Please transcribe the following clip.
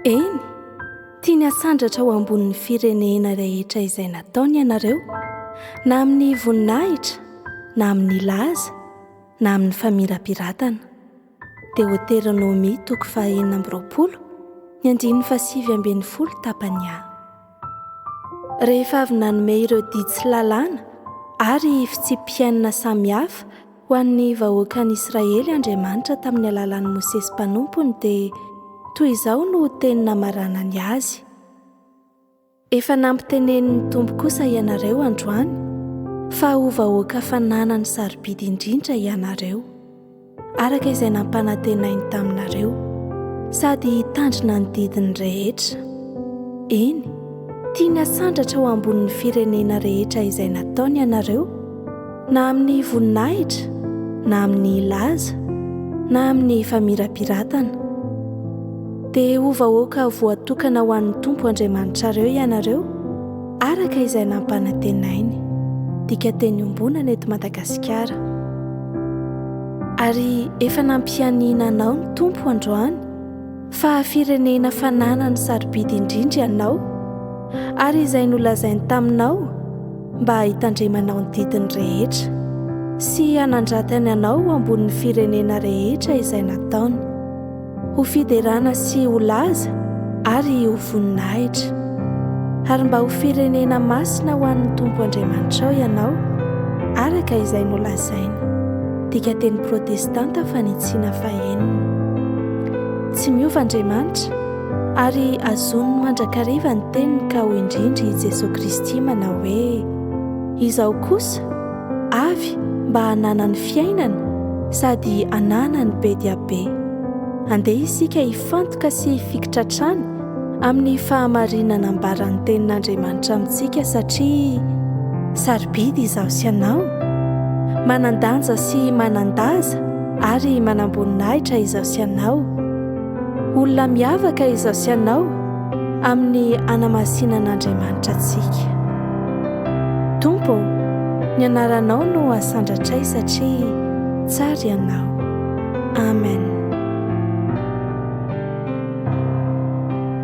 Eny, tiany hasandratra ho ambonin'ny firenena rehetra izay nataony ianareo, na amin'ny voninahitra, na amin'ny laza, na amin'ny famirapiratana. Deoteronomia toko fahenina amby roapolo, ny andininy fahasivy ambin'ny folo tapany a. Rehefa avy nanome ireo didy sy lalàna ary fitsipi-piainana samihafa ho an'ny vahoakan'Israely Andriamanitra tamin'ny alalan'i Mosesy mpanompony, dia toy izao no teny namaranany azy, Efa nampitenenin'ny Tompo kosa ianareo androany fa ho vahoaka fananany sarobidy indrindra ianareo. araka izay nampanantenainy taminareo, sady hitandrina ny didiny rehetra. Eny, tiany hasandratra ho ambonin'ny firenena rehetra izay nataony ianareo, na amin'ny voninahitra, na amin'ny laza, na amin'ny famirapiratana. Dia ho vahoaka voatokana ho an'ny Tompo Andriamanitrareo ianareo, Araka izay nampanantenainy. Dika teny ombonana eto Madagasikara. Ary efa nampianiana anao ny Tompo androany fa firenena fananany sarobidy indrindra ianao ary izay nolazainy taminao mba hitandremanao ny didiny rehetra sy hanandratany anao ho ambonin'ny firenena rehetra izay nataony. ho fiderana sy ho laza ary ho voninahitra. Ary mba ho firenena masina ho an'ny Tompo Andriamanitrao ianao, araka izay nolazaina. Dika teny protestanta fanitsiana fahenina. Tsy miova Andriamanitra, ary azoniny mandrakariva ny teniny ka ho indrindra i Jesoa Kristy manao hoe, Izao kosa, avy mba hananany fiainana sady hananany be dia be. Andeha isika hifantoka sy hifikitra hatrany amin'ny fahamarinana ambaran'ny Tenin'Andriamanitra amintsika satria sarobidy izaho sy ianao, manan-danja sy manan-daza ary manam-boninahitra izaho sy ianao. Olona miavaka izaho sy ianao amin'ny hanamasinan'Andriamanitra antsika. Tompo ô, ny anaranao no hasandratray satria tsara ianao. Amen.